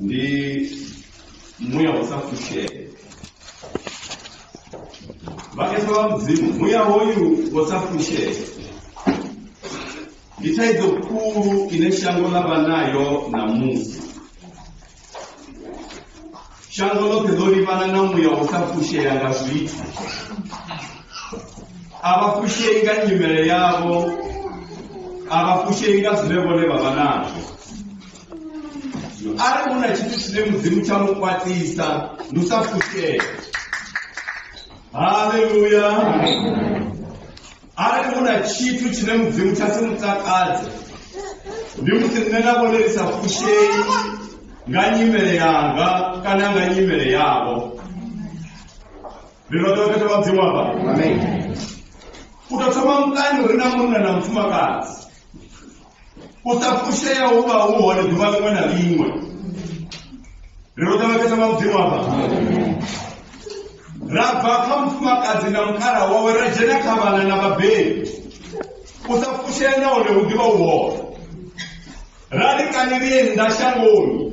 ndi muya wa sa fushele vhakhetha vha mudzimu muya hoyu wa sa fushele ndi thaidzo khulu ine shango ḽa vha nayo ṋamusi shango ḽoṱhe ḽo livhana na muya wa sa fushela nga zwithu a vha fushei nga nyimele yavho a vha fushei nga zwine vhone vha vha nazwo arali hu na tshithu tshine mudzimu tsha mu kwatisa ndi u sa fushea haleluya arali hu na tshithu tshine mudzimu tsha si mutakadze ndi musi nṋe na vhone ri sa fushei nga nyimele yanga kana nga nyimele yavho rino tea u thetha vhadzimu avha u tou thoma mukani uri na munna na mufumakadzi u sa fushea hu vha hu hone ḓuvha ḽiṅwe na ḽiṅwe ri ro ṱavhekesa nga mudzimu aba ra bva kha mufumakadzi na mukhala wawe ra dzhena kha vhana na vhabebi u sa fushea na hone hu ḓivha u hone ra ri kani lie nnḓa shangoni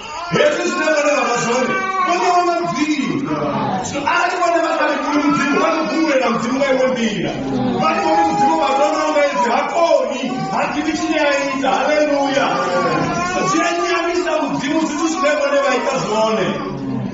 hezwi zwine vhone vha vha zwone vhone wana mudzimu so arali vhone vha sa lekuli mudzimu vha ḓo fhungulela mudzimu nga iwe nḓila vha ri vhone mudzimu vha ḓona nga edzi ha koni ha ḓivi tshine a ita haleluya zwi a nyamisa mudzimu zwithu zwine vhone vha ita zwone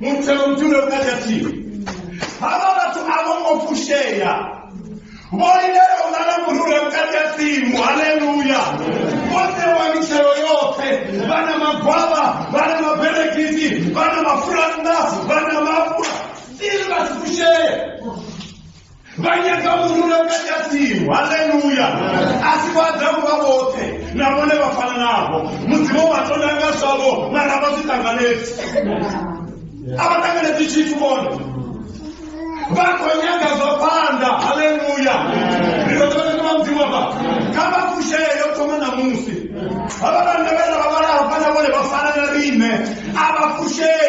muthe u dzule u na khathihi havha vhathu a vho ngo fushea vho lindela u vha na murule vhukati ha tsimu haleluya vho ṋewa mitshelo yoṱhe vha na magwavha vha na maberekisi vha na mafurannda vha na mafura sili vha si fushee vha nyaga murule u katasimu haleluya a si vha adamu vha vhoṱhe na vhone vha fana navho mudzimu vha tonda nga zwavho mara vha zwi ṱanganedzi a vha ṱanganedzi tshithu vhone vha khou nyaga zwa phanḓa haleluya ri ḓo ḓo ḓo mudzimu vha kha vha fushee yo thoma na musi havha vhanna vhe ra vha vhala hafha na vhone vha fana na riṋe a vha fushei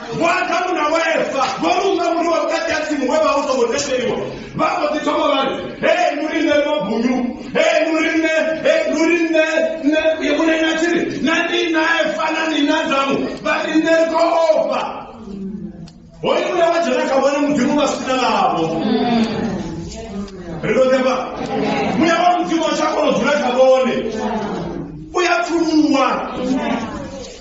Adamu na Eva vho lunga muri wa vhukati ha tsimu we vha u songo tendeliwa vha mbo ḓi thoma vha ri hei nu ri nṋe mabunyu hei nu ri nṋe hei nu ri nṋe nṋe yevhune na tshi ri na ndi na Eva na ndi na Adamu vha ri nṋe ri khou ofha hoyu une wa dzhena kha vhone mudzimu vha sina navho ri ḓo ḓepa muya wa mudzimu a tsha kona u dzula kha vhone u ya pfuluwa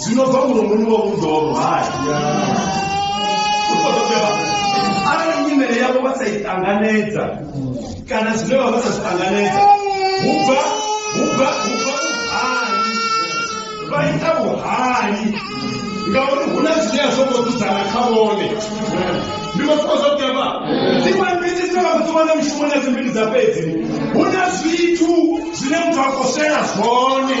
Zwino bva mulomoni wa vhuḓoro hai u khou ḓo beba arali nyimele yavho vha sa i ṱanganedza kana zwine vha vha sa zwi ṱanganedza hu bva hu bva hu bva vhuhali vha ita vhuhali ngauri hu na zwine a zwo ngo dzudzana kha vhone ndi vha funa zwa beba dziṅwe mbiti dzine vha khou dzi wana mishumoni ya dzimbili dza fhedzi hu na zwithu zwine muthu a khou swela zwone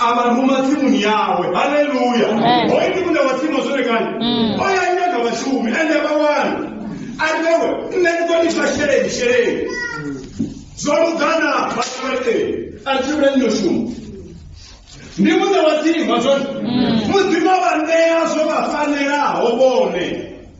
a vha ruma tsimuni yawe haleluya Amen. hoyu ndi muṋe wa tsimu zwone kani Mm. o ya ita nga vhashumi ende vha wani a tewe nṋe ndi ḓo lifha sheleni sheleni zwo lugana vhatewe a ri tshimbile nno shuma ndi muṋe wa tsimu zwone Mm. mudzimu a vha ṋea zwo vha fanelaho vhone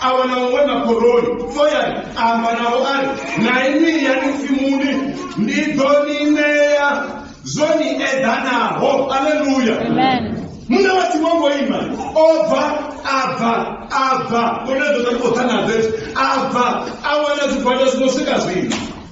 a wana muṅwe na khoroni foyani a amba navho a ri na inwi yani tsimuni ndi ḓo ni ṋea zwo ni eḓanaho aleluya muṋe wa tsimu ongo ima o bva a bva a bva kone ḓo ḓa ni khou ḓa na zezwo a bva a wana zwigwada zwino swika zwino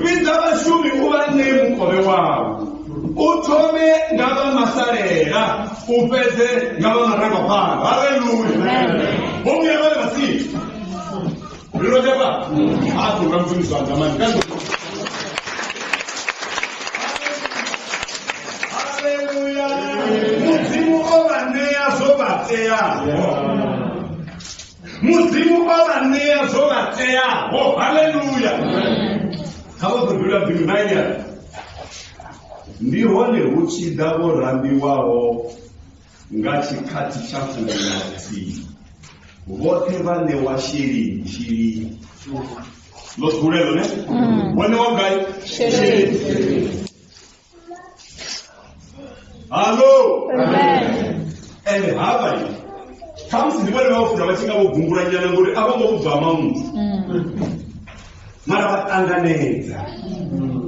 vhidza vhashumi u vha ṋee mukovhe wavho u thome nga vha masalela u fhedze nga vha marangaphanḓa haleluya vho vhuya vha vha si lilo jaba a ku ra muthu zwa ndamani ka haleluya mudzimu o vha ṋea zwo vha teaho mudzimu o vha ṋea zwo vha teaho haleluya kha vha khou dzula bili vhainyana ndi hone hu tshi ḓa vho rambiwaho nga tshikhathi tsha fumi na vhuthihi vhoṱhe vha ṋewa sheleni sheleni ḽo dzulelo ne vho ṋewa ngai sheleni hallo ende hava i khamusi ndi vhone vhafuna vha tshi nga vho gungula nyana ngori a vho ngo vhubva ha mamusi mara vha ṱanganedza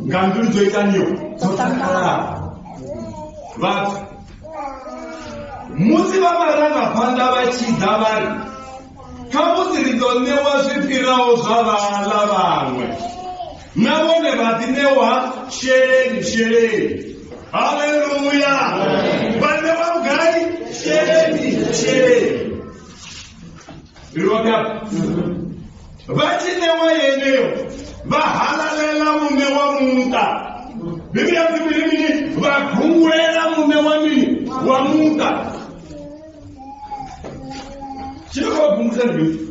nga mbilu dzo itaniyo dzo takalaho vhathu musi vha marangaphanḓa vha tshi ḓa vha ri khamusi ri ḓo ṋewa zwi fhiraho zwa vhaḽa vhaṅwe na vhone vha ḓi ṋewa sheleni sheleni haleluya vha ṋewa vhugai sheleni sheleni ri vhona vha tshi ṋewa yeneyo vha halalela muṋe wa muṱa biblia dzi mini mini vha gungulela muṋe wa mini wa muṱa tshine vha gungulela ndi mini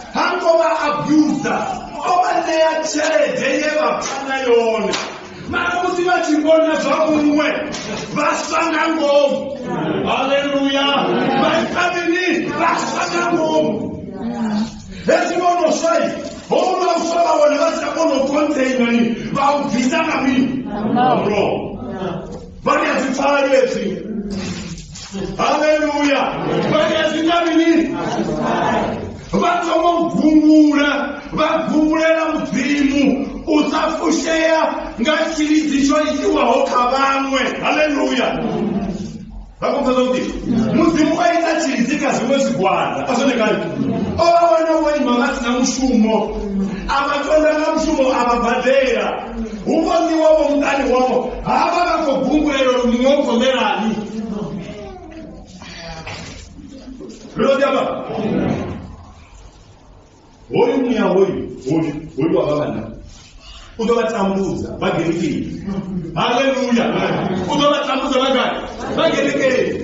ha ngo vha abusa o vha ṋea tshelede ye vha pfa na yone mara musi vha tshi vhona zwa muṅwe vha swa nga ngomu haleluya vha ita mini vha swa nga ngomu hezwi vho no swai houla u swa vha wana vha si tsha kona u containani vha u bvisa nga mini Wrong. Bani ya zitali ezi. Haleluya. Bani ya zitali ni. Vhathoma u gungula, vha gungulela mudzimu u sa fushea nga tshilidzi tsho itiwaho kha vhaṅwe. Haleluya. Vha khou pfesa kuti mudzimu o ita tshilidzi kha zwiṅwe zwigwada. A zwone kale. O vha wana vho ima vha si na mushumo. A vha tonda nga mushumo a vha badela. Hu vhoniwa vho muṱani wavho ha vha vha khou gungulelwa uri muṅwe u khou ḽelani. Ri ḓo ḓi amba. Hoyu muya hoyu hoyu hoyu wa vha vhanna u ḓo vha tambudza vha gerekeni. Haleluya! U ḓo vha tambudza vha gai? Vha gerekeni.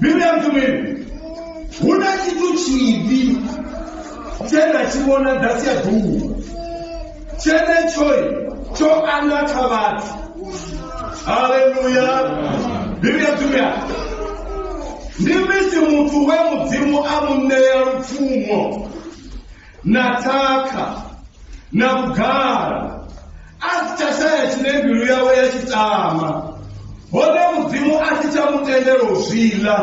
Miriam Tumeni, huna tshithu tshivhi tshe na tshi vhona ḓasi ya ḓuwa tshenetshoyi tsho anda kha vhathu haleluya bivhi ya tumea ndi misi muthu we mudzimu a mu ṋea lupfumo na tshakha na vhugala a si tsha shaya tshine mbilu yawe ya tshi tama hone mudzimu a si tsha mu tendela u zwi ḽa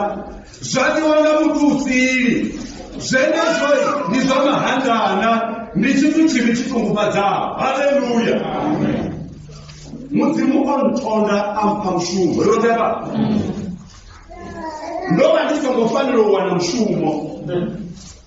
zwa ḽiwa nga muthu u sili zwenezwo ndi zwa mahandana ndi tshithu tshivhi tshi ṱungufhadzaho haleluya mudzimu o nthonda a mpha mushumo yo tevha ndo vha ndi songo fanela u wana mushumo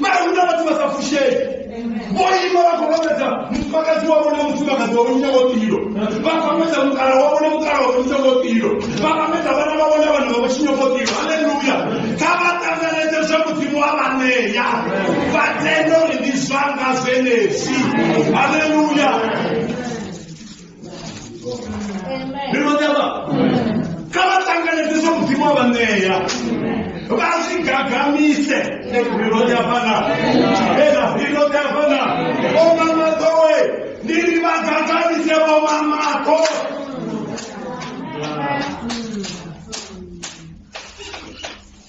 mara huna vhathu vha sa fushei vho ima vha khou vhambedza mufumakadzi wavho na mufumakadzi wavho nyinga ngo tilo vha khou vhambedza mukala wavho na mukala wavho nyinga ngo tilo vha vhambedza vhana vhavho na vhana vhavho tshinyo ngo tilo haleluya kha vha ṱanganedze zwe mudzimu wa vha ṋea vha tende uri ndi zwanga zwenezwi haleluya ndi lonyama kha vha ṱanganedze zwa mudzimu wa vha ṋea vha zwi gagamise ri lonyafana ena ri lonyafana omamakowe ndi ri vha gagamise vomamako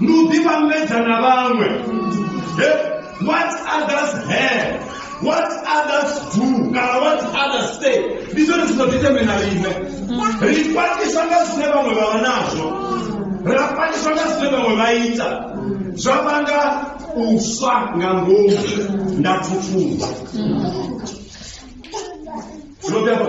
ni u ḓivhambedza na vhaṅwe what others have what others do kana what others say ndi zwone zwino ḓitheme na riṋe ri kwatiswa nga zwine vhaṅwe vha vha nazwo ra kwatiswa nga zwine vhaṅwe vha ita zwa vhanga u swa nga ngomu nda thuthuba zwo bjaba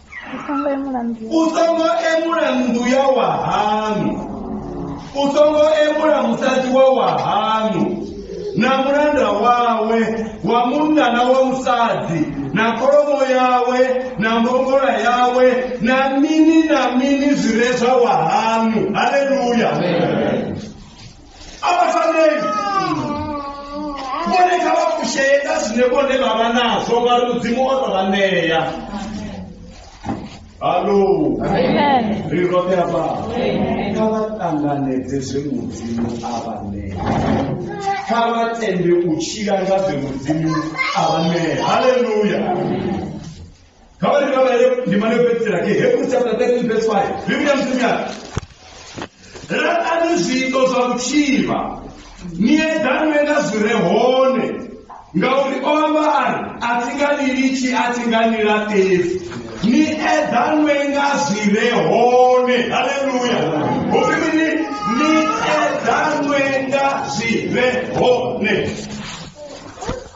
u songo emula nnḓu ya- u songo emula nnḓu ya wahaṋu u songo emula musadzi wa wahaṋu na mulanda wawe wa munna na wa musadzi na kholomo yawe na mbongola yawe na mini na mini zwi re zwa wahaṋu haleluya abafaneli vhone kha vha kusheye nga zwine vhone vha vha nazwo ngauri mudzimu o tou vha ṋea halo ri roṱhe afha kha vha ṱanganedze zwe mudzimu a vha ṋea kha vha tende u tshila nga zwe mudzimu a vha ṋea haleluya Habari kama leo ni maneno pekee yake. Hebrews chapter 13 verse 5. Biblia mtumia. Ratani zwiito zwa vhutshivha ni eḓanwe nga zwi re hone ngauri o amba a ri a thi nga ni litshi a thi nga ni laṱefu ni eḓanwe nga zwi re hone haleluya hu ri mini ni eḓanwe nga zwi re hone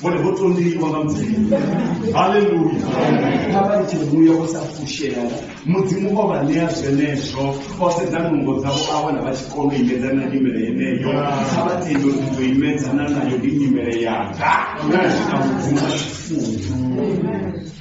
vhone vho tondiwa nga mudzimu haleluya kha vha ite muya wo sa fushea mudzimu o vha ṋea zwenezwo o sedza nungo dzavho a wana vha tshi kona u imedzana na nyimele yeneyo kha vha tende uri ndi ḓo imedzana nayo ndi nyimele yanga na zwina mudzimu a tshifuna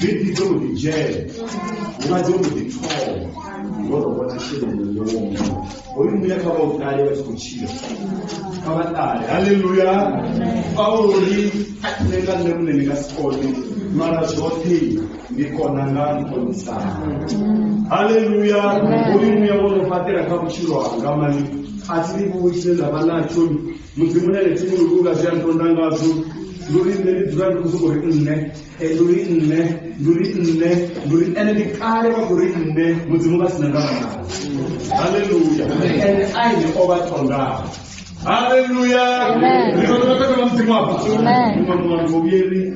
Baby dzo mbo ḓi dzhena nga dzo mbo ḓi thoma ngo ro vhona tshelede yo woma hoyu muya kha vha u ṱale vha tshi khou tshila kha vha ṱale haleluya paulo ri a khune nga nṋe muṋe ndi nga si kone mara zwoṱhe ndi kona nga nkontsana haleluya hoyu muya wo no fhaṱela kha vhutshilo hanga mani a thi livhuwi tshine nda vha natsho mudzimu une ane thimu lukunga zwi a ntonda ngazwo nduri nṋe ndi dzula ndi khou sokou ri nṋe eh, nduri nṋe nduri nṋe nduri ende ndi kale vha khou ri nṋe mudzimu vha si na ndavha nao halleluya ende aine o vha tondaho halleluya ri vhathu vha takala mudzimu apa Amen. muṅwe muṅwe vhuvhili